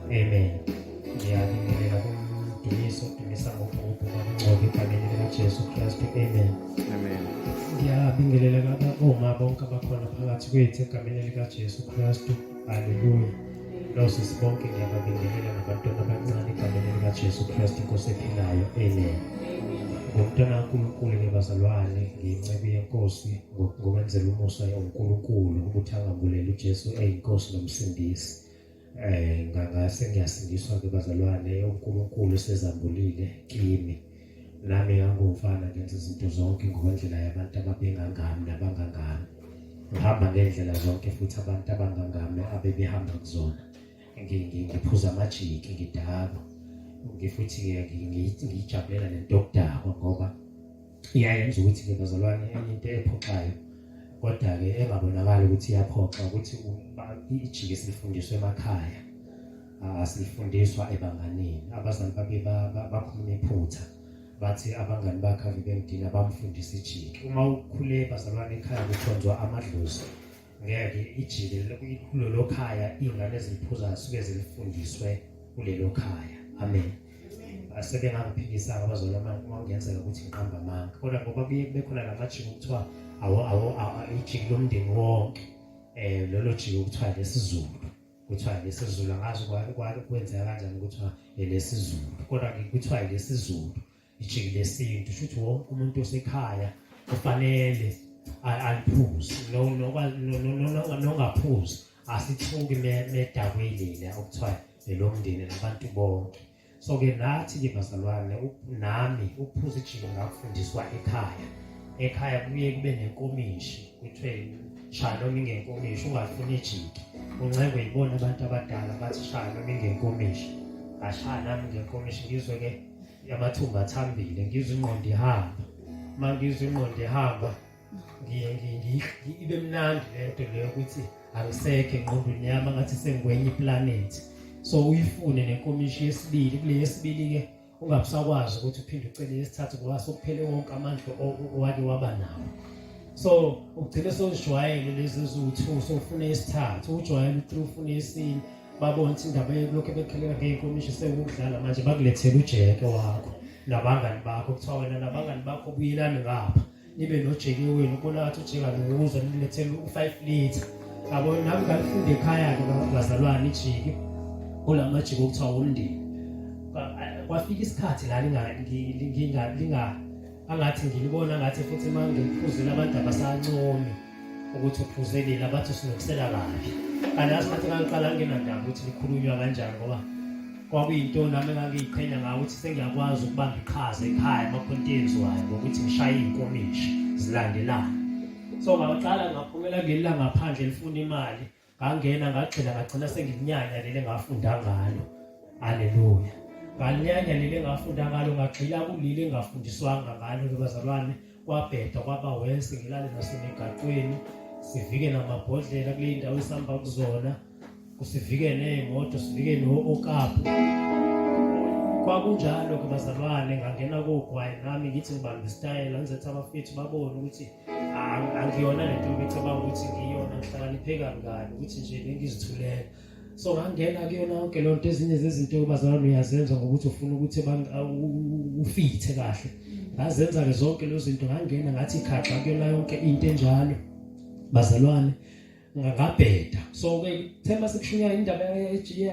Amen. Ngiyabingelela kumdumiso dumisa ngobhubhu ngokungcoba egameni likaJesu Kristu. Amen. Amen. Ngiyabingelela laba omama bonke abakhona phakathi kwethu egameni likaJesu Kristu. Haleluya. Nose sibonke ngiyababingelela nabantwana abancane egameni likaJesu Kristu inkosi ephilayo. Amen. Ngomntwana kaNkulunkulu ngibazalwane nginceku yenkosi ngokwenzela umusa uNkulunkulu ukuthi angambuleli uJesu eyinkosi nomsindisi. eh ngangase ngiyasindiswa ke bazalwane uNkulunkulu sezambulile kimi nami ngangumfana ngenza izinto zonke ngokwendlela yabantu ababengangami nabangangami ngihamba ngendlela zonke futhi abantu abangangami abebehamba kuzona ngiphuza amajiki ngidakwa ngifuthi ngiyijabulela lento yokudakwa ngoba iyayenza ukuthi ke bazalwane enye into ephoxayo kodwa-ke engabonakali ukuthi iyaphoxa ukuthi ijike esilifundiswa emakhaya asilifundiswa ebanganini abazali babe bakhuluma iphutha bathi abangani bakhe avibemdina bamfundisa ijiki uma ukhule bazalwane ekhaya kukhonzwa amadlozi ngeke ijike kulelo khaya iy'ngane eziliphuzayo suke zilifundiswe kulelo khaya amen asebengakuphikisanga abazali ongenzeka ukuthi ngiqamba amanga kodwa ngoba kuye kube khona la majiki okuthiwa ijiki lomndeni wonke um lolo jiki okuthiwa lesizulu kuthiwa lesizulu angazi kwenzeka kanjani kuthiwa elesizulu kodwa kuthiwa elesizulu ijiki lesintu shuthi wonke umuntu osekhaya kufanele aliphuze nongaphuzi asithuki medakwelile okuthiwa elomndeni nabantu bonke so-ke nathi-ke bazalwane nami ukuphuza ijiki ngakufundiswa ekhaya ekhaya kuye kube nenkomishi kuthiwe shaya noma ingenkomishi ungafuni ijiki uncengwe yibona abantu abadala bathi shaya noma ingenkomishi ashaya nami ngenkomishi ngizwe-ke yamathumba athambile ngizwe ingqondo ihamba uma ngizwe ingqondo ihamba ibe mnandi le nto leyo ukuthi angisekho engqondweni yami angathi sengikwenye iplanethi so uyifune nenkomishi yesibili kule yesibili-ke ungabusakwazi ukuthi uphinde ucele yesithathu ngoba sokuphele wonke amandla owake waba nawo so ugcine sewuzijwayele lezi eziwu-two sowufune isithathu ujwayele u-three ufune isine babona ukuthi indaba yokulokhu bekhelela ngeyinkomishi sewukudlala manje bakulethela ujeke wakho nabangani bakho kuthiwa wena nabangani bakho buyelani ngapha nibe nojeke wenu ubona ngathi ujeka nokuza nilethele u-five litre yabo nami ngalifunde ekhaya-ke bazalwane ijiki kula majiki okuthiwa womndeni kwafika isikhathi la angathi ngilibona ngathi futhi uma ngiphuzile abantu abasancomi ukuthi uphuzelile abathi usinokisela kabi kanti asikhathi kangiqala nginandaba ukuthi likhulunywa kanjani ngoba kwakuyinto nami engangiyiqhenya ngayo ukuthi sengiyakwazi ukubamba iqhaza ekhaya emakhonto enziwayo ngokuthi ngishaye iy'nkomishi zilandelana so ngaqala ngaphumela kuleli langaphandle lifuna imali ngangena ngagxila ngagcina sengikunyanya leli engafunda ngalo haleluya ngalinyanya leli engafunda ngalo ngagxila kuleli engafundiswanga ngalo bazalwane kwabheda kwaba wese ngilale nasemigaqweni sivike namabhodlela kule ndawo esihamba kuzona kusivike ney'moto sivike no-okapu kwakunjalo-ke bazalwane ngangena kogwayi nami ngithi ngibambe isitayela ngizethi abafethu babone ukuthi angiyona le nto becabanga ukuthi ngiyona ngihlakanipheke kangani ukuthi nje bengizithulela so ngangena kuyona yonke loo nto ezinye zezinto bazalwane uyazenza ngokuthi ufuna ukuthi ufithe kahle ngazenza-ke zonke lezo zinto ngangena ngathi khaxa kuyona yonke into enjalo bazalwane ngabheda so ke thema sikushunya indaba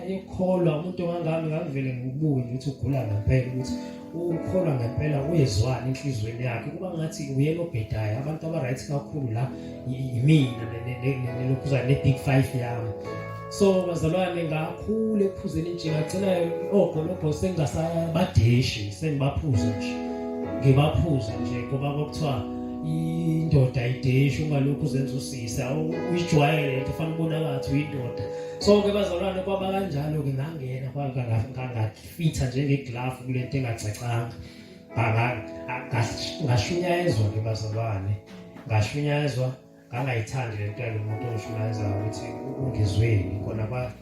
yekholwa umuntu ongangami ngangivele ngibuye ukuthi ugula ngempela ukuthi ukholwa ngempela uyezwani enhlizweni yakhe kuba ngathi uyena obhedayo abantu abaright kakhulu la yimina nelokhuza ne-big five yami so bazalwane ngakhule ephuzeni nje ngagcina ogolobho sengingasabadeshi sengibaphuza nje ngibaphuza nje ngoba kwakuthiwa indoda ideshi ungalokhu uzenza Ngisa uyijwayele into fanele ubona ngathi uyindoda. So ke bazalwane kwaba kanjalo ke ngangena kwaba ngangafitha njenge glove kulento engacacanga. Banga ngashunyayezwa ke bazalwane. Ngashunyayezwa ngangayithandi lento yalomuntu oshunyayeza ukuthi ungizweni khona ba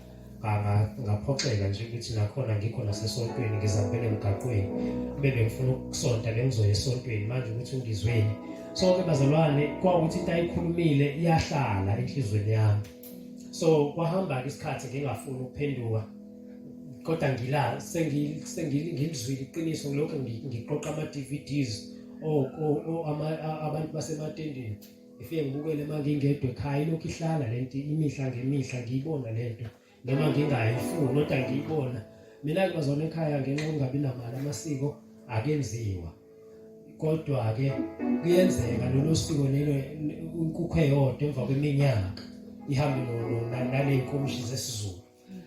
ngaphoxeka nje ukuthi nakhona ngikho nasesontweni ngizambele emgaqweni kube bengifuna ukusonta bengizoya esontweni manje ukuthi ngizweni sonke bazalwane kwawukuthi into ayikhulumile iyahlala enhlizweni yami so kwahamba-ke isikhathi ngingafuni ukuphenduka kodwa ngila sengilizwile iqiniso ngilokhu ngiqoqa ama-dvds oh, oh, oh, abantu basematendeni ngifike ngibukele uma ngingedwa ekhaya ilokhu ihlala le nto imihla ngemihla ngiyibona le nto noma ngingayifuni kodwa ngiyibona mina-ke bazona ekhaya ngenxa yokungabi namali amasiko akenziwa kodwa-ke kuyenzeka lolo siko lelo inkukhu eyodwa emva kweminyaka ihambe naley'nkomishi zesizulu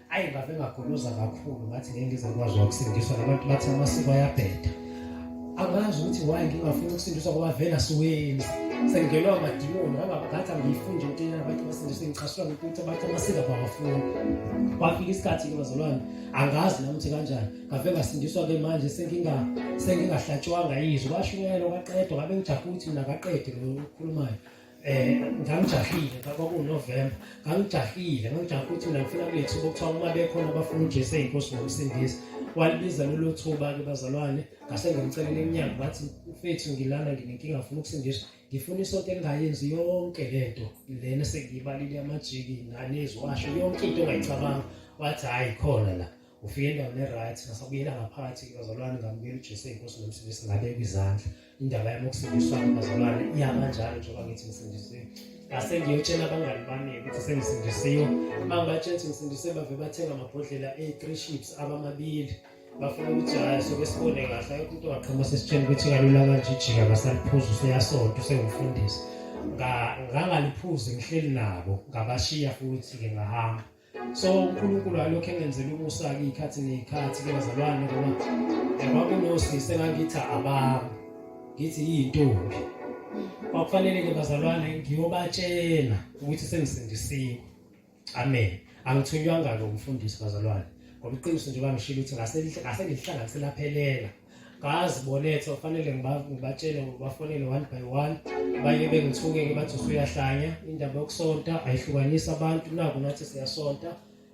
ayi ngabe ngagoloza kakhulu ngathi ngeke ngize ngikwazi ukusindiswa nabantu bathi amasiko ayabheda angazi ukuthi why ngingafuni ukusindiswa ngoba vele asiwenzi sengenwa amadimoni ngathi angiyifundi into yena abantu basindiswe ngichaswa ngikuthi abantu amasiko abawafuni kwafika isikhathi ke bazalwane angazi nami ukuthi kanjani ngave ngasindiswa ke manje senginga sengingahlatshwanga yizwi kwashunyelwa kwaqedwa ngabe ngijahe ukuthi mina kaqede lo okhulumayo eh ngangijahile baba kuNovember ngangijahile ngangijahile ukuthi mina ngifuna kulethu bokuthiwa uma bekhona abafuna uJesu eyinkosi nokusindisa walibiza lolu thuba ke bazalwane ngase ngimcelele emnyango bathi mfethu ngilana nginenkinga ngifuna ukusindiswa ngifuna isonto engayenzi yonke lento lena sengiyibalile amajiki nanezwasho yonke into ongayicabanga wathi hayi khona la ufike endaweni e-right ngasabuyela ngaphakathi bazalwane ngamukela uJesu eyinkosi nokusindisa ngabeka izandla indaba yami ukusindiswa bazalwane iyama njalo njengoba ngithi ngisindisiwe ngase ngiyotshela abangani bami ukuthi sengisindisiwe uma ngibatshela ukuthi ngisindisiwe bave bathenga amabhodlela e-three ships abamabili bafuna ukuthi hhayi soke sibone kahle ayikho into ongaqhama sesitshela ukuthi kalula kanje ijika ngasaliphuza useyasonta usengumfundisi ngangaliphuzi ngihleli nabo ngabashiya futhi-ke ngahamba so uNkulunkulu alokhu engenzela umusa ke ikhathi nekhathi ke bazalwane ngoba yaba kunosisi engakithi abami ngithi yintombi kwakufanele ke bazalwane ngiyobatshela ukuthi sengisindisiwe amen angithunywanga lo mfundisi bazalwane ngoba iqiniso nje bangishilo ukuthi ngase ngase ngihlanganisela phelela ngazi bonetha kufanele ngibatshele ngibafonele one by one abanye bengithuke ngibathi usuyahlanya indaba yokusonta ayihlukanisi abantu naku nathi siyasonta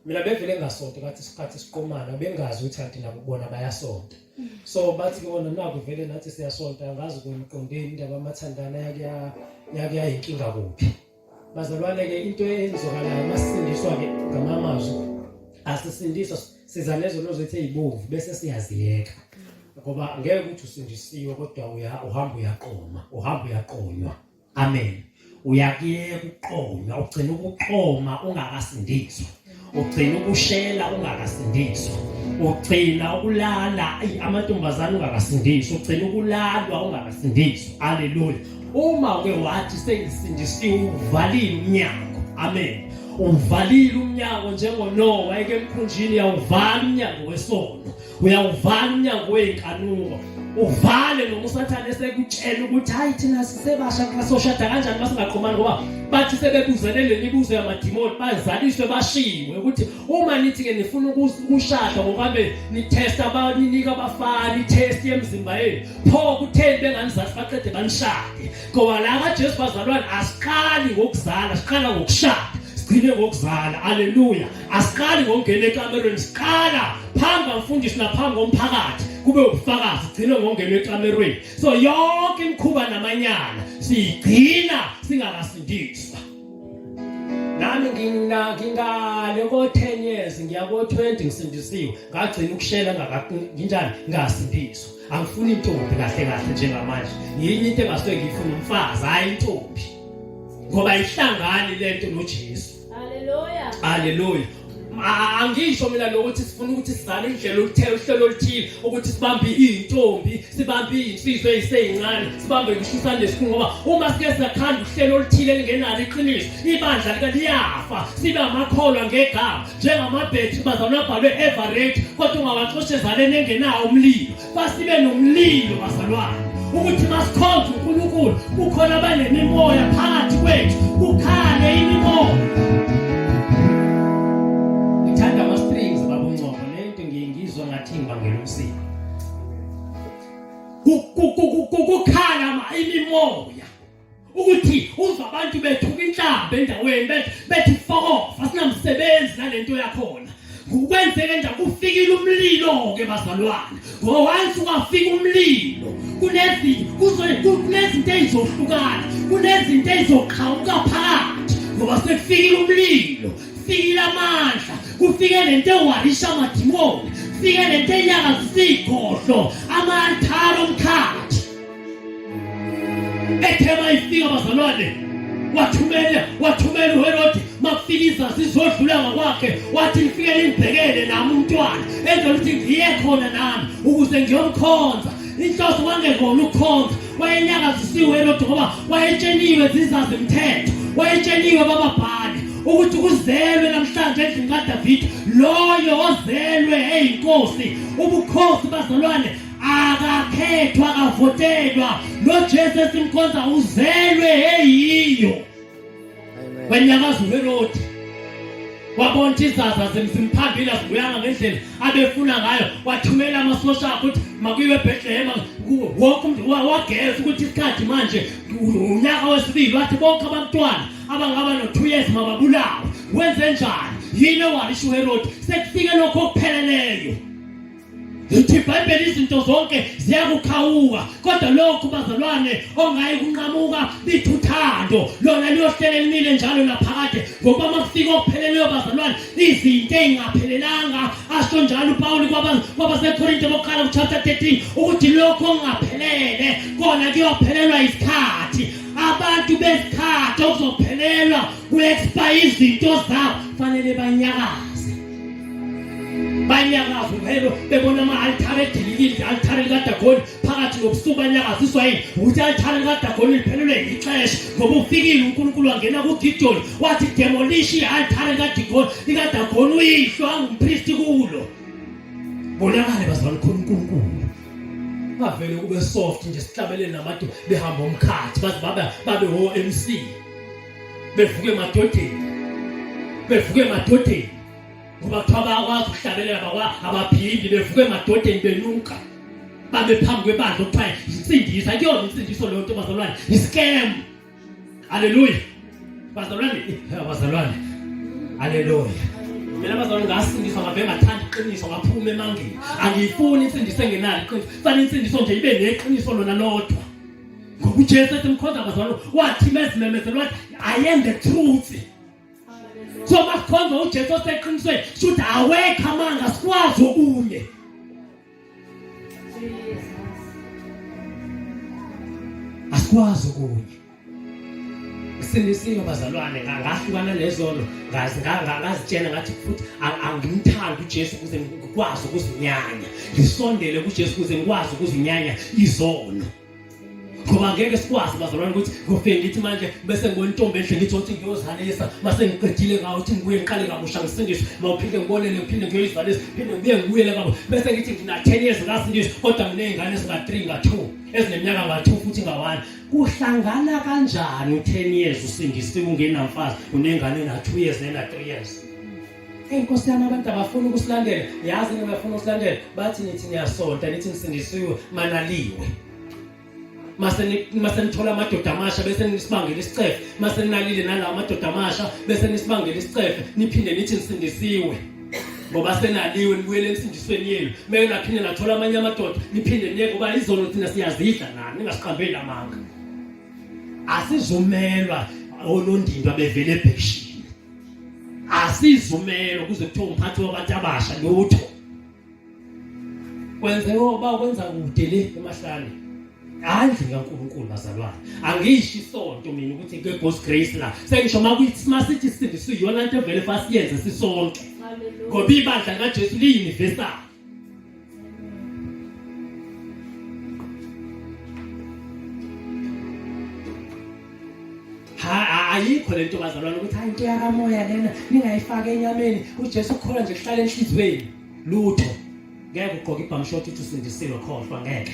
mina bevele ngasonta ngathi isikhathi siqomana bengazi ukuthi kanti nabo bona bayasonta so bathi kona naku vele nathi siyasonta ngazi kwemqondeni indaba amathandana yakuya yakuyayinkinga kuphi Bazalwane-ke into eyenzakalayo masisindiswa-ke ngamanye amazwi asisindiswa siza nezono zethu ey'bomvu bese siyaziyeka ngoba ngeke ukuthi usindisiwe kodwa uhamba uyaqoma uhamba uyaqonywa amen uyakuyeka ukuqonywa ugcina ukuqoma ungakasindiswa ugcina ukushela ungakasindiswa ugcina ukulala amantombazane ungakasindiswa ugcina ukulalwa ungakasindiswa haleluya uma uke wathi sengisindisiwe uvalile umnyango amen uvalile umnyango njengonowa eke emkhunjini yawuvala umnyango wesono uyawuvala umnyango wey'nkanuko uvale noma usathane esekutshela ukuthi hayi thina sisebasha kasoshada kanjani uma singaqhumani ngoba bathi sebebuzele le mibuzo yamadimoni bazaliswe bashiwe ukuthi uma nithi-ke nifuna ukushada ngokabe nithesta baninika abafana ithesti yemzimba yenu pho kutheni benganizathi baqede banishade ngoba la kajesu bazalwane asiqali ngokuzala siqala ngokushada sigcine ngokuzala aleluya asiqali ngokungena ekamerweni siqala phambi kwamfundisi naphambi komphakathi kube ubufakazi gcine ngongena ekamerweni so yonke imikhuba namanyala siyigcina singakasindiswa nami ngingale ko-10 years ngiya ko-20 ngisindisiwe ngagcina ukushela nginjani ngasindiswa angifuni intombi kahle kahle njengamanje yini into engasuke ngiyifuna umfazi hhayi intombi ngoba ihlangani lento noJesu Haleluya. Haleluya. angisho mina lokuthi sifuna ukuthi sizale indlela oluthele uhlelo oluthile ukuthi sibambe iy'ntombi sibambe iy'nsizwa ey'seyincane sibambe ngishisane lesikhulu ngoba uma sike siyakhanda uhlelo oluthile elingenalo iqiniso ibandla lika liyafa sibe amakholwa ngegama njengamabhethi bazalwa abhalwe everate kodwa ungawaxoshe ezaleni engenawo umlilo Basibe nomlilo bazalwane ukuthi masikhonze uNkulunkulu kukhona abanemimoya phakathi kwethu kukhale imimoya ngithanda ama strings baba uNcobo lento ngiye ngizwa ngathi ngibangela umsiko kukhala imimoya ukuthi uva abantu bethuka inhlamba endaweni bethi bethi fokofa sinamsebenzi nalento yakhona ukwenzeke nje kufikile umlilo ke bazalwane ngowansi kwafika umlilo kunezinto kunezinto ezizohlukana kunezinto ezizoqhawuka phakathi ngoba sekufikile umlilo kufikile amandla kufike lento ewarisha amadimoni kufike lento enyakazisa igodlo amanthalo omkhathi ethema ifika bazalwane wathumela wathumela uHerodi makufika sizodlula ngakwakhe wathi ngifike ningibhekele nami umntwana enza ukuthi ngiye khona nami ukuze ngiyomkhonza inhloso wangekona ukukhonza wayenyakazisiwe uHerodi ngoba wayetsheniwe zizazi mthetho wayetsheniwe bababhali ukuthi kuzelwe namhlanje endlini kaDavid loyo ozelwe eyinkosi ubukhosi bazalwane akakhethwa akavotelwa nojesu esimkhonza uzelwe eyiyo wenyakazulu elodi wabona ukuthi izaza zimphambile azibuyanga ngendlela abefuna ngayo wathumela amasosha akho ukuthi makuyiwe ebhetlehema wonke umntu wageza ukuthi isikhathi manje unyaka wesibili wathi bonke abantwana abangaba no-two years mababulawe wenze njani yini owalisho uherodi sekufike lokho okupheleleyo lithi ibhayibheli izinto zonke ziyakukhawuka kodwa lokhu bazalwane ongayi kunqamuka lithi uthando lona liyohlele limile njalo naphakade ngoba uma kufika okupheleleyo bazalwane izinto ey'ngaphelelanga asho njalo upawuli kwabasekorinte bokuqala kuchapter 13 ukuthi lokhu okungaphelele kona kuyophelelwa isikhathi abantu besikhathi okuzophelelwa ku-expire izinto zabo fanele banyakaze banyakaza umhelo bebona ama-altare edililile i-altare likadagoni phakathi nobusuku banyakaziswa yini ukuthi i-altare likadagoni liphelelwe yixesha ngoba ufikile unkulunkulu wangena kugidoni wathi demolishi i-altare likadagoni uyihlo angumpristi kulo bonakale bazalwa likhona unkulunkulu bavele kube soft nje sihlabelele namade behamba umkhathi baze babe babe wo-mc bevuke madodeni bevuke madodeni ngoba kuthiwa bayakwazi ukuhlabelela bakwa abaphindi bevuke madodeni benuka babe phambi kwebandla okuthiwa yisindisa kuyona insindiso leyo nto bazalwane yiscam haleluya bazalwane bazalwane haleluya mina bazalwane ngasindiswa ngabe ngathanda iqiniso ngaphuma emangeni angiyifuni insindiso engenalo iqiniso fanele insindiso nje ibe neqiniso lona lodwa ngoba ujesu ethi mkhonza bazalwane wathi mezimemezela wathi i am the truth so masikhonza ujesu oseqinisweni shuthi awekho amanga sikwazi okunye asikwazi okunye sindisiwe bazalwane ngahlukana nezono ngazitshela ngathi futhi angimthandi uJesu ukuze ngikwazi ukuzinyanya ngisondele kuJesu ukuze ngikwazi ukuzinyanya izono ngoba ngeke sikwazi bazalwane ukuthi ngofike ngithi manje bese ngibona intombi enhle ngithi othi ngiyozalisa mase ngiqedile ngawo ukuthi ngibuye ngiqale kabusha ngisindiswe mawuphinde ngibonele ngiphinde ngiyoyizalisa phinde ngibuye ngibuyele kabo bese ngithi ngina 10 years ngasindiswa kodwa nginezingane ezinga 3 nga 2 ezineminyaka nga 2 futhi nga 1 kuhlangana kanjani u10 years usindisiwe ungenamfazi unengane na 2 years nena 3 years Inkosi yami abantu abafuna ukusilandela yazi nina bafuna ukusilandela bathi nithi niyasonta nithi nisindisiwe manaliwe mase mase nithola amadoda amasha bese nisibangela isicefe mase ninalile nalawo amadoda amasha bese nisibangela isicefe niphinde nithi nisindisiwe ngoba senaliwe nibuyele emsindisweni yenu meke naphinde nathola amanye amadoda niphinde niye ngoba izono thina siyazidla nani ningasiqambeli amanga asizumelwa onondindwa bevele ebheshini asizumelwa kuze kuthiwa umphathi wabantu abasha lutho kwenzeka uba kwenza kude le emahlane andle kaNkulunkulu bazalwane angisho isonto mina ukuthi ke God's grace la sengisho makuyithi masithi sindiswe iyona into evele fasiyenze sisonke ngoba ibandla kaJesu liyiuniversal ayikho lento bazalwane ukuthi hayi into yakamoya lena ningayifaki enyameni uJesu ukholwa nje kuhlala enhlizweni lutho ngeke ugqoke ibhamshoti uthi usindisiwe khohlwa ngeke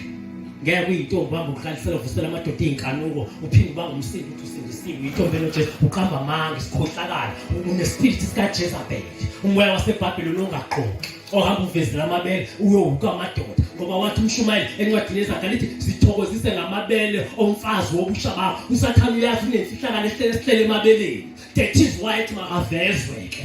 ngeke uyintombi ubamba ubuhlalisela uvusela amadoda iy'nkanuko uphinde ubanga umsindo ukuthi usindisiwe uyintombi enojesu uqamba amanga isikhohlakala unesipirithi sikajezabeli umoya wasebhabheloni ongagqoki ohamba uvezela amabele uyowuka amadoda ngoba wathi umshumayeli encwadini ezakhe lithi sithokozise ngamabele omfazi wobusha bakho usathane uyazi unemfihlakalo ehlele esihlele emabeleni that is why ethi makavezwe-ke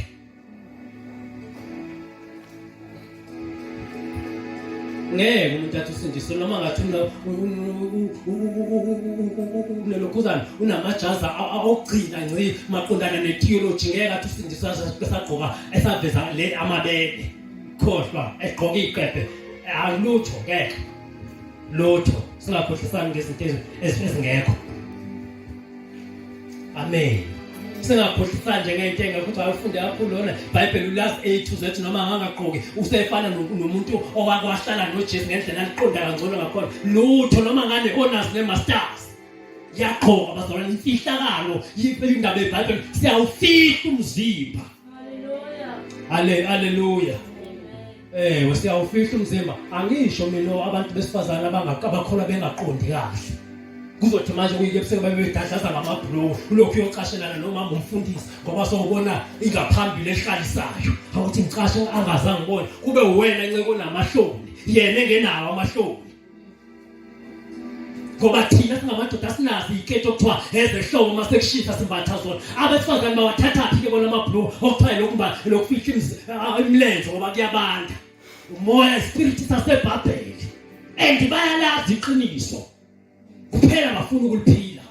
ngeke umuntu athi usindiswe noma ngathi unelokhuzana unamajaza okugcina nci maqondana ne-theology ngeke athi usindiswa esagqoka esaveza le amabele khohlwa egqoka iy'qebhe alutho ngeke lutho singakhohlisani ngezinto ezingekho amen singakhohlisa nje ngento engekho ayifunde kakhulu lona ibhayibheli ulas a to z noma angangagqoki usefana nomuntu owakwahlala nojesu ngendlela aliqonda kangcono ngakhona lutho noma ngane onas ne-masters yaqhoka bazalwane imfihlakalo indaba yebhayibheli siyawufihla umzimba haleluya Eh usiyawufihla umzimba angisho mina abantu besifazana abangakabakhola bengaqondi kahle kuzothi manje kuyike ebuseke babe bedadlaza ngamabhulowo ulokhu uyocashelana nomama umfundisi ngoba sowubona ingaphambili ehlalisayo awuthi ngicashe angazange ubone kube uwena nceke onamahloni yena engenawo amahloni ngoba thina singamadoda sinazi iketi okuthiwa ezehlobo uma sekushisa simbatha zona abesifazane bawathathaphi ke bona amabhluku okuthiwa lokumba lokufihla ah, imilenze ngoba kuyabanda umoya ispiriti sasebhabheli and bayalazi iqiniso kuphela bafuna ukuliphila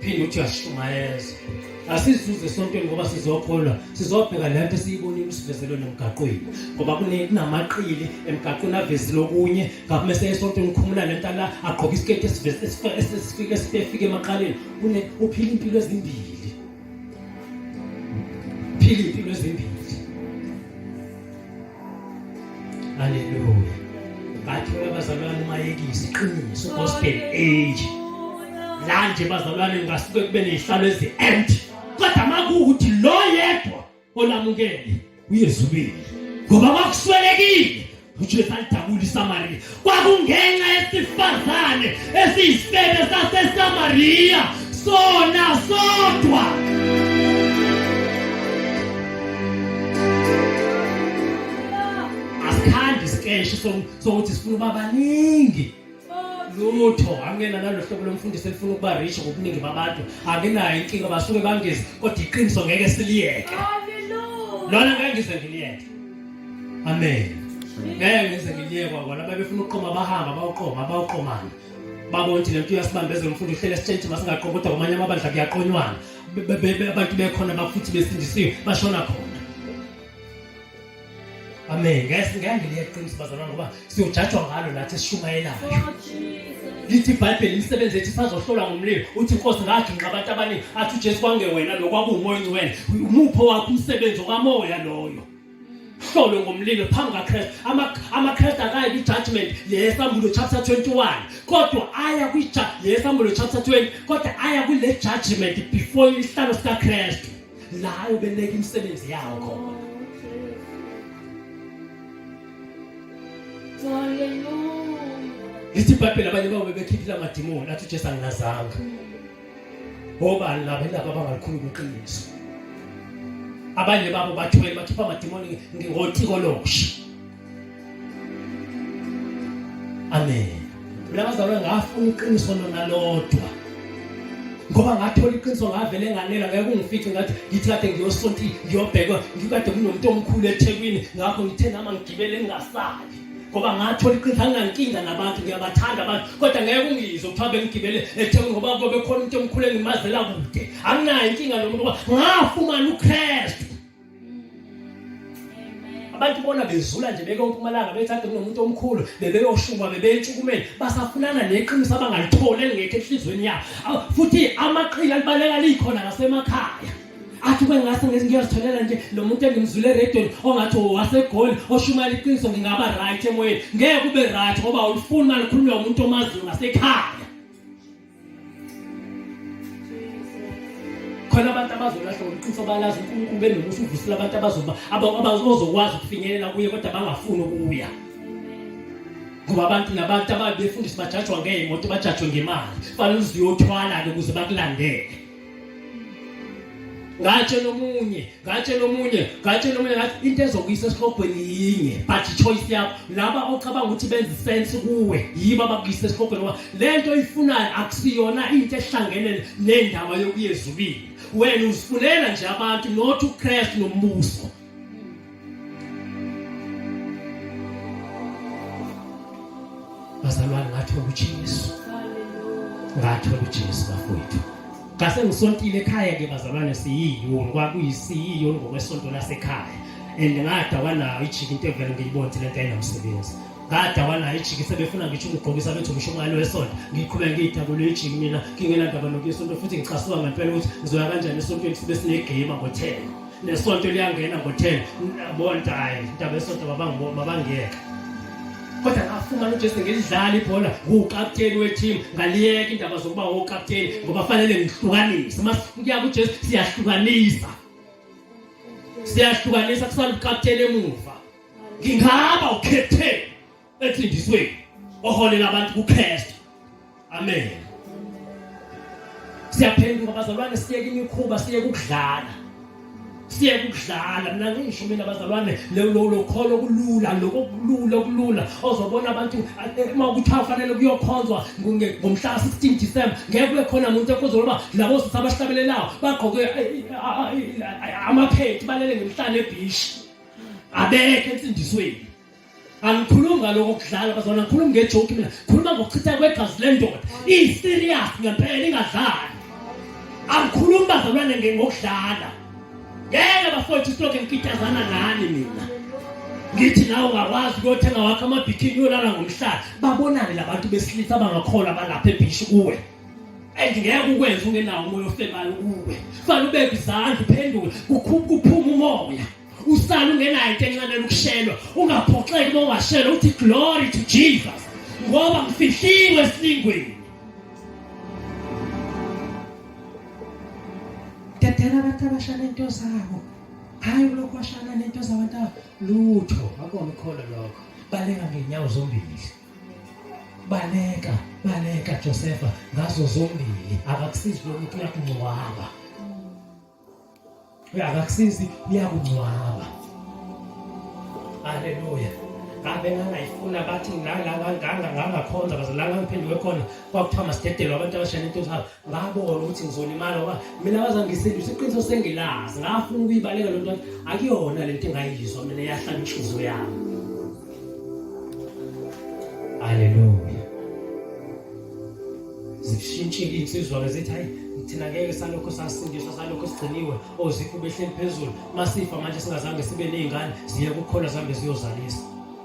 phinde uthi uyashumayeza asizuze esontweni ngoba sizokholwa sizobheka le nto esiyibonile usivezelwe nomgaqweni ngoba kunamaqili emgaqweni avezile okunye ngapha mese esontweni ukhumula le nto la agqoke isiketi esifike esifike emaqaleni une uphila impilo ezimbili phila impilo ezimbili Hallelujah. Bathi abazalwane umayekisi iqiniso gospel age. La nje bazalwane ngasuke kube nezihlalo ezi empty. Kodwa makuthi lo yedwa olamukele uyezubile. Ngoba makuswelekile uJesu alidabula iSamariya. kwakungenxa yesifazane esiyisifebe sasesamariya sona sodwa asikhandi isikeshi sokuthi sifuna uba baningi lutho angena nalo hlobo lomfundisi elifuna ukuba rich ngobuningi babantu anginayo inkinga basuke bangezi kodwa iqiniso ngeke siliyeke lona ngeke ngize ngiliyeke amen ngeke ngize ngiliyekwa kona babefuna ukuqoma bahamba bawuqoma bawuqomana babona ukuthi lento uyasibambezela umfundi uhlele sitshentshi masingaqomi kodwa kwamanye amabandla kuyaqonywana abantu bekhona bafuthi besindisiwe bashona khona amen ngeke ngeke ngiliyekwa iqiniso bazalwana ngoba siyojajwa ngalo nathi esishumayelayo lithi ibhayibheli imisebenzi ethi sazohlolwa ngomlilo uthi inkosi ngagingqa abantu abaningi athi ujesu kwangewena lo kwakuwumoya ongcwele umupho wakho umsebenzi okamoya loyo hlolwe ngomlilo phambi kakristu amakristu akayi kwi-judgment leyesambulo chapter 21 kodwa aya leyesambulo chapter 20 kodwa aya kule judgment before isihlalo sikakristu la ubeleka imisebenzi yawo khona lithi ibhayibheli abanye babo bebekhiphile amadimoni athi ujesu anginazanga obani laba indaba abangalikhulu kwiqiniso abanye babo bathwele bakhipha amadimoni ngotiko lokusha Amen. Mina bazalwa ngafuna iqiniso lona lodwa. Ngoba ngathola iqiniso ngavele nganela ngeke kungifice ngathi ngithi kade ngiyosonti ngiyobhekwa ngikade kunomuntu omkhulu eThekwini ngakho ngithe nama ngigibele ngingasali. ngoba ngathola iqiniso anginankinga nabantu ngiyabathanda abantu kodwa ngeke ungizwe kuthiwa bengigibele ethekwini ngoba kube khona umuntu omkhulu engimazela kude anginayo inkinga nomuntu ngoba ngafumana ukristu abantu bona bezula nje beke umpumalanga bethi ade kunomuntu omkhulu bebeyoshuma bebeyentshukumeni basafunana neqiniso abangalitholi elingekho enhlizweni yabo futhi amaqili alibaleka likhona nasemakhaya athi kwengase ngezi ngiyazitholela nje lo muntu engimzule eredweni ongathi wasegoli oshumayela iqiniso ngingaba right emoyeni ngeke ube right ngoba awulifuni malikhulunywa umuntu omaziyo ngasekhaya khona abantu abazolahla ngobuqiniso balazi unkulunkulu benomusa uvusile abantu abazoba abazokwazi ukufinyelela kuye kodwa bangafuni ukuya ngoba abantu nabantu ababe befundisa bajajwa ngey'moto bajajwe ngemali fanele uziyothwala-ke ukuze bakulandele ngatshela omunye ngatshela omunye ngatshela omunye ngathi into ezokuyisa esihlogweni yinye but choice yakho laba ocabanga ukuthi benza sense kuwe yiba bakuyisa esihlogweni ngoba lento oyifunayo akusiyona into ehlangene nendaba yokuyezulwini wena uzifunela nje abantu not uKristu nombuso bazalwane ngathola uJesu ngathola uJesu bafowethu ngase ngisontile ekhaya ke bazalwane siyiyoni kwakuyisiyiyoni ngokwesonto lasekhaya and ngada wanayo ijika into evele ngiyibonze lento ayinamsebenzi ngada wanayo ijika sebefuna ngisho ukugqokisa bethu ngisho umali wesonto ngiqhubeka ngiyidabule ijika mina ngingenandaba nokuyesonto futhi ngicasuka ngempela ukuthi ngizoya kanjani esontweni sibe sinegame ngo-10 nesonto liyangena ngo-10 bontaye indaba esonto mabangiyeka kodwa ngafumana ujesu ngilidlala ibhola nguwukapteni wethimu ngaliyeka indaba zokuba wokapteni ngoba fanele ngihlukanise uma siya kujesu siyahlukanisa siyahlukanisa kusala ukapteni emuva ngingaba ukhetheni eqindisweni oholela abantu kuKristu amen siyaphenduka bazalwane siyeke imikhuba siyeke ukudlala siye kudlala mina ngisho mina bazalwane lokholo kulula lokulula kulula ozobona abantu eh, uma ukuthi afanele kuyokhonzwa ngomhla 16 December ngeke kube khona umuntu ekuzoloba labo sisi abahlabelelayo bagqoke eh, eh, amaphethi balele ngemhlane ebishi abekho ensindisweni angikhulumi ngaloko kudlala bazona ngikhulumi ngejoki mina khuluma ngokuchitha kwegazi lendoda iyi-serious ngempela ingadlali angikhulumi bazalwane ngokudlala ngeke bafowethu siloke ngikitazana nani mina ngithi nawe ungakwazi ukuyothenga wakho amabhikini uyolala ngomhlala babonane labantu besilisa abangakholwa balapha ebhishi kuwe and ngeke ukwenza ungenawo umoya ofemayo kuwe fanele ubeke izandla uphendule kuphuma umoya usale ungenayo into enxenela ukushelwa ungaphoxeki uma ungashelwa uthi glory to jesus ngoba ngifihliwe esilingweni dedela abantu abashana into zabo hhayi kulokhu washana nento zabantu lutho akona ukholo lokho baleka ngenyawo zombili baleka baleka josefa ngazo zombili akakusizi lomuntu uyakungcwaba akakusizi iyakungcwaba haleluya ngabe ngangayifuna bathi nganganganga ngangakhonza baze la ngangiphenduke khona kwakuthiwa masidedelwe abantu abashayela into zabo ngabona ukuthi ngizolimala ngoba mina bazangisindisa iqiniso sengilazi ngafuna ukuyibaleka lento akuyona lento engayizwa mina yahlala inhliziyo yami haleluya zishintshile insizwa-ke zithi hayi thina ngeke salokhu sasindiswa salokhu sigciniwe oziphu behleli phezulu masifa manje singazange sibe ney'ngane ziye kukhona zihambe ziyozalisa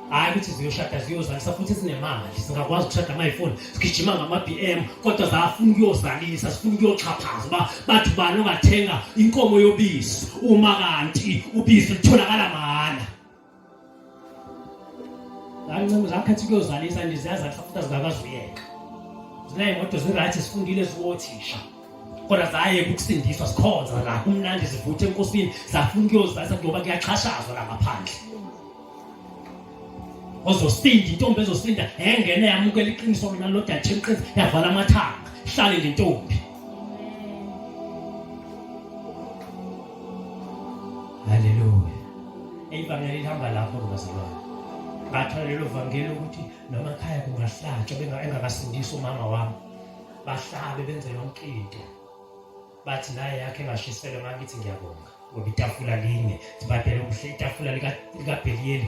hhayi ukuthi ziyoshada ziyozalisa futhi sinemali singakwazi ukushada mayifuni sigijima ngama-b m kodwa zafuna ukuyozalisa sifuna ukuyoxhaphaza uba bathi ubani ongathenga inkomo yobisi uma kanti ubisi lutholakala mahhala zancinci zakhetha ukuyozalisa nje ziyazahlisa futhi azingakwazi uyeka zinayimoto zirayithi sifundile ziwothisha kodwa zaye ukusindiswa sikhonza la kumnandi zivuthe enkosini zafuna ukuyozalisa ngoba kuyaxhashazwa la ngaphandle ozosinda intombi ezosinda engene yamukela iqiniso mina lodathi iqiniso yavala amathanga hlale ngentombi Haleluya. Ivangeli lihamba lapho bazalwane. Ngathola lelo vangeli ukuthi noma ekhaya kungahlatshwa bengakasindisi umama wami. Bahlabe benze yonke into. Bathi naye yakhe engashiselwe ngakithi ngiyabonga. Ngoba itafula linye, sibadele ubuhle itafula lika lika Beliyeli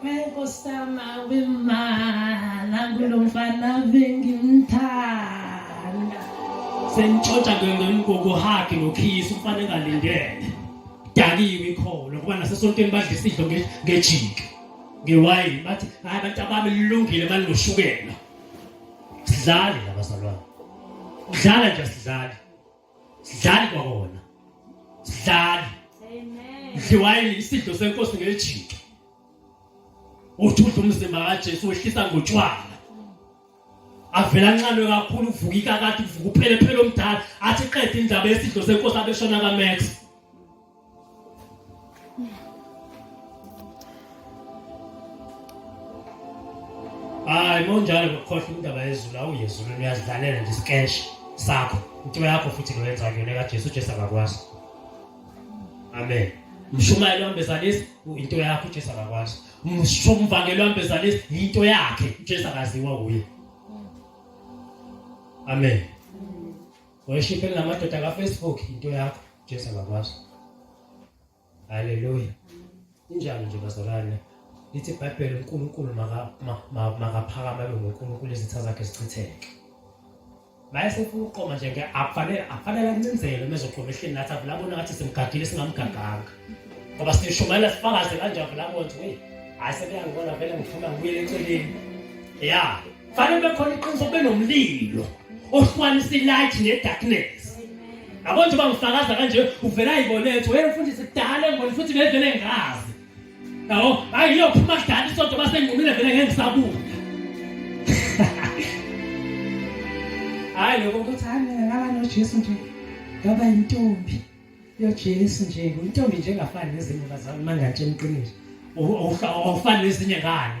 Kwenkosama wemala kulo mfana bengimthanda. Sengitshotsha ngengokuhagi nokhisi umfana engalindele. Dakiwe ikholo ngoba nasesontweni badla isidlo ngejiki. Ngewayini bathi hayi abantu abami lilungile manje ngoshukela. Sidlale abazalwane. Udlala nje sidlale. sidlali kwakona sidlali mdliwayini isidlo senkosi ngejika uthudla umzimba kaJesu wehlisa ngotshwala avela nxanwe kakhulu uvuka ikakade uvuka uphele phela omdala athi qede indaba yesidlo senkosi abeshona kaMax hayi monjalo ngokukhohlwa indaba yezulu awuye ezulwini uyazidlalela nje isikeshi sakho into yakho futhi loyenza kuyona kajesu ujesu akakwazi amen mshumayeli wambezalisi into yakho ujesu akakwazi mshumvangeli wambezalisi yinto yakhe ujesu akaziwa wuye amen Worship elamadoda ka Facebook into yakho Jesu akakwazi. Hallelujah. Injalo nje bazalwane. Lithi iBhayibheli uNkulunkulu makaphakama abe nguNkulunkulu izitha zakhe zichitheke. Mayesefuna ukuqoma nje ke akufanele akufanele ancindzelwe mezoqoma ehleni nathi avula bona ngathi simgadile singamgaganga. Ngoba sishumayela sifakaze kanjani avula bonke. Hayi sekuyangibona vele ngiphuma ngibuyele eceleni. Yeah. fanele bekhona iqiniso kube nomlilo ohlukanisa ilight nedarkness yabo nje bangifakaza kanje uvela iboletho hey mfundisi kudala engiboni futhi bevele ngazi yabo hayi iyophuma kudala isonto basengqumile vele ngeke ngisabuka hayi lokho ukuthi hayi mina ngaba nojesu nje ngaba yintombi yojesu nje intombi nje engafani nezinye bazalwane mangatshe emqiniso awufani nezinye ngane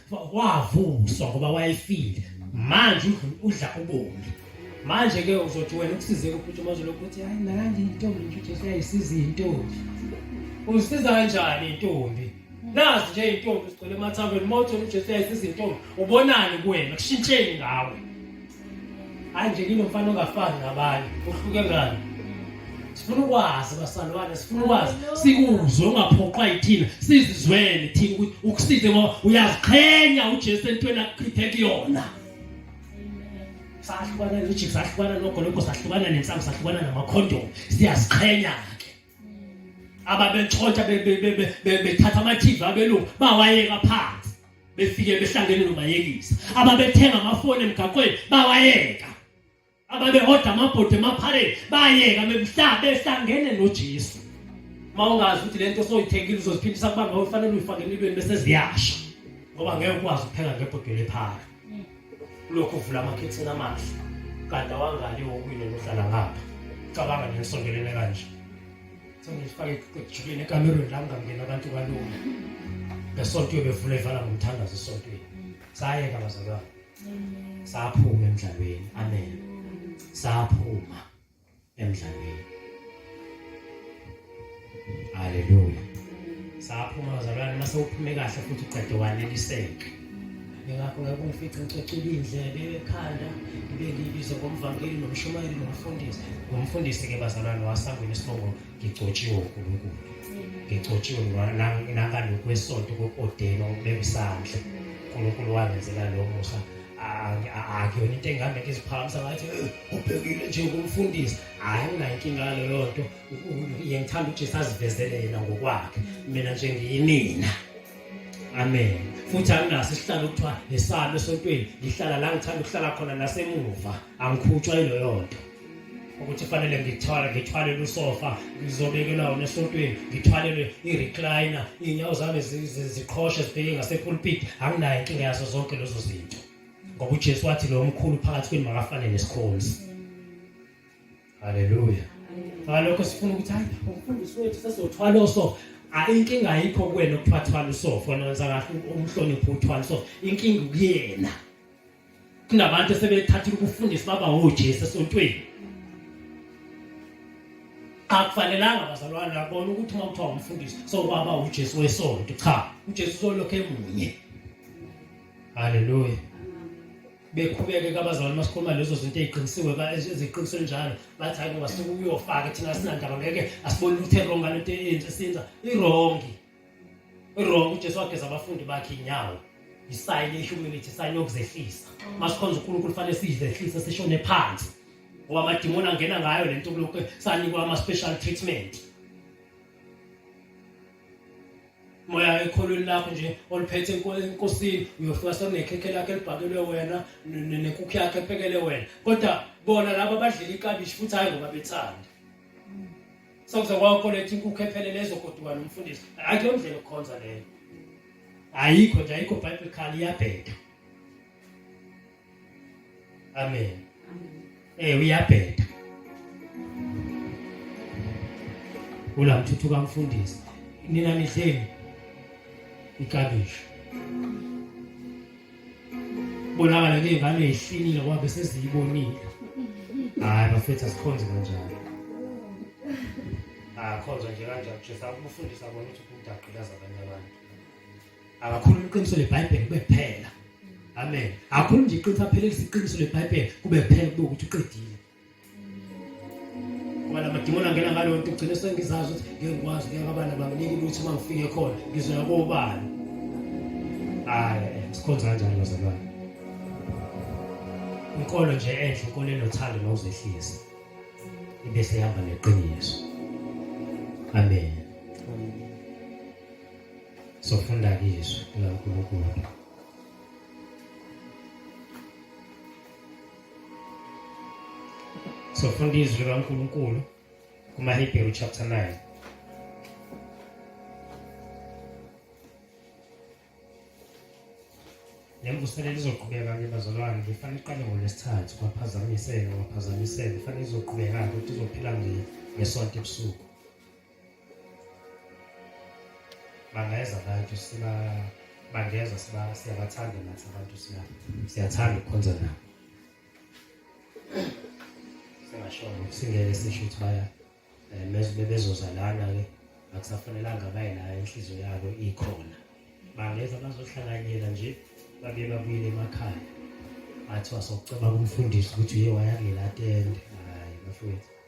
wavuswa ngoba wayefile manje udla ubomi manje ke uzothi wena ukusizeke ukuthi uma uzolokhu uthi hayi nandi intombi nje ujesu uyayisiza iy'ntombi uzisiza kanjani intombi nazi nje iy'ntombi zigcwele emathaveni uma uthole ujesu uyayisiza iy'ntombi ubonani kuwena kushintsheni ngawe hayi nje kinomfana ongafani nabanye uhluke ngani sifuna ukwazi basalwane sifuna ukwazi sikuzwe ungaphoqwa yithina sizizwele thina ukuthi ukusize ngoba uyaziqhenya uJesu entweni akuchithe kuyona sahlukana noJesu sahlukana nogologo sahlukana nensangu sahlukana namakhondomu siyaziqhenya ke ababetshontsha bethatha amathivi abelungu bawayeka phansi befike behlangene nobayekisa ababethenga amafoni emgaqweni bawayeka ababehoda amabhodi emaphareni bayeka bemhla behlangene nojesu uma ungazi ukuthi le nto soyithengile uzoziphindisa kuba ngawe ufanele uyifake empilweni bese ziyasha ngoba ngeke ukwazi ukupheka ngebhodweni ephara ulokhu uvula amakhethini amahle kade awangali wokwile nohlala ngapha cabanga nesongelele kanje sengifake ekujuleni ekamerweni la kungangena abantu kalula ngesonto yobevula ivala ngomthandazo esontweni sayeka bazalwane saphuma emdlalweni amen saphuma emdlalweni haleluya saphuma bazalwane mase uphume kahle futhi uqede waneliseke ngingakho ngifice ngicocile indlebe ekhanda ngibe ngibizwa ngomvangeli nomshumayeli nomfundisi ngomfundisi-ke bazalwane wasangweni isibongo ngigcotshiwe unkulunkulu ngigcotshiwe nangalokwesoto kokodeno ukubeka isandla unkulunkulu wangenzela lo musa akuyona into engabe ngiziphakamisa ngathi ubhekile nje kumfundisi hhayi unayinkinga leyo nto yengithanda ujesu azivezele yena ngokwakhe mina nje ngiyimina amen futhi anginaso isihlalo ukuthiwa ngisami esontweni ngihlala la ngithanda ukuhlala khona nasemuva angikhutshwa yiloyo nto ukuthi fanele ngithwale ngithwalele usofa ngizobekelwa wona esontweni ngithwalelwe i-recliner iy'nyawo zami ziqhoshe zibheke ngasepulpit anginayo inkinga yazo zonke lezo zinto ngoba ujesu wathi lo mkhulu phakathi kwenu makafane nesikhonzi Haleluya. Ngalokho sifuna ukuthi hayi umfundisi wethu sesothwala so inkinga ayikho kuwena ukuthathwala usofa nonza kahle umhlonipho uthwala so inkinga kuyena. Kunabantu sebethatha ukufundisa baba uJesu esontweni. akufanelanga bazalwane labona ukuthi uma kuthiwa umfundisi sokwaba uJesu wesonto cha uJesu solokhu emunye haleluya bekhubeke kabazali uma sikhuluma lezo zinto eziqinisiwe eziqinise njalo bathi hayi ngoba suke uyofaka thina sinandaba ngeke asiboni ukuthi erong ngale nto eyenze senza irongi irongi ujesu wageza abafundi bakhe inyawo isayini i-humility isayini yokuzehlisa uma sikhonza unkulunkulu fanele siyizehlise sishone phansi ngoba amadimoni angena ngayo le nto kulokhu sanikwa ama-special treatment moya ekholweni lakho nje oliphethe enkosini uyofika sekunekhekhe lakhe elibhakelwe wena nenkukhu yakhe ephekele wena kodwa bona laba badlela ikabishi futhi hhayi ngoba bethanda sokuze kwakoletha inkukhu ephelele ezogoduka nomfundisi hhayi leyo ndlela okukhonza leyo ayikho nje ayikho biblical iyabheda amen eh uyabheda ulamthuthuka mfundisi nina nidleni ikabishi bonakala ke ngane ihlinile ngoba bese siyibonile hayi bafethu asikhonze kanjalo akhonzwa nje kanjalo nje sakufundisa bona ukuthi umuntu agqilaza abanye abantu akakhuluma iqiniso lebhayibheli kube kuphela amen akakhuluma nje iqiniso aphelelisa iqiniso lebhayibheli kube kuphela kube ukuthi uqedile ngoba lamadimoni angena ngaleyo nto ugcine sengizazi ukuthi ngeke ngikwazi ngeke abana banginike ukuthi uma ngifike khona ngizoya kobani hayi sikhonza kanjani bazalwane inkolo nje enhle inkolo enothando nokuzehlisa ibe sehamba neqiniso amen sofunda izwi likaNkulunkulu sofunda izwi likaNkulunkulu kumaHebheru chapter 9 nemvuselelo izoqhubeka-ke bazalwane ngifanele iqale ngolwesithathu kwaphazamiseka kwaphazamiseka ifanele izoqhubeka-ke ukuthi izophila ngesonto ebusuku bangeza abantu siba bangeza siba siyabathanda nathi abantu siya siyathanda ukukhonza nabo singasho singeke sisho ukuthi baya eh, meze bebezoza lana ke akusafanelanga baye la inhliziyo yabo ikhona bangeza bazohlanganyela nje babe babuyele emakhaya athiwa sokucabanga umfundisi ukuthi uye wayangela atende hayi bafowethu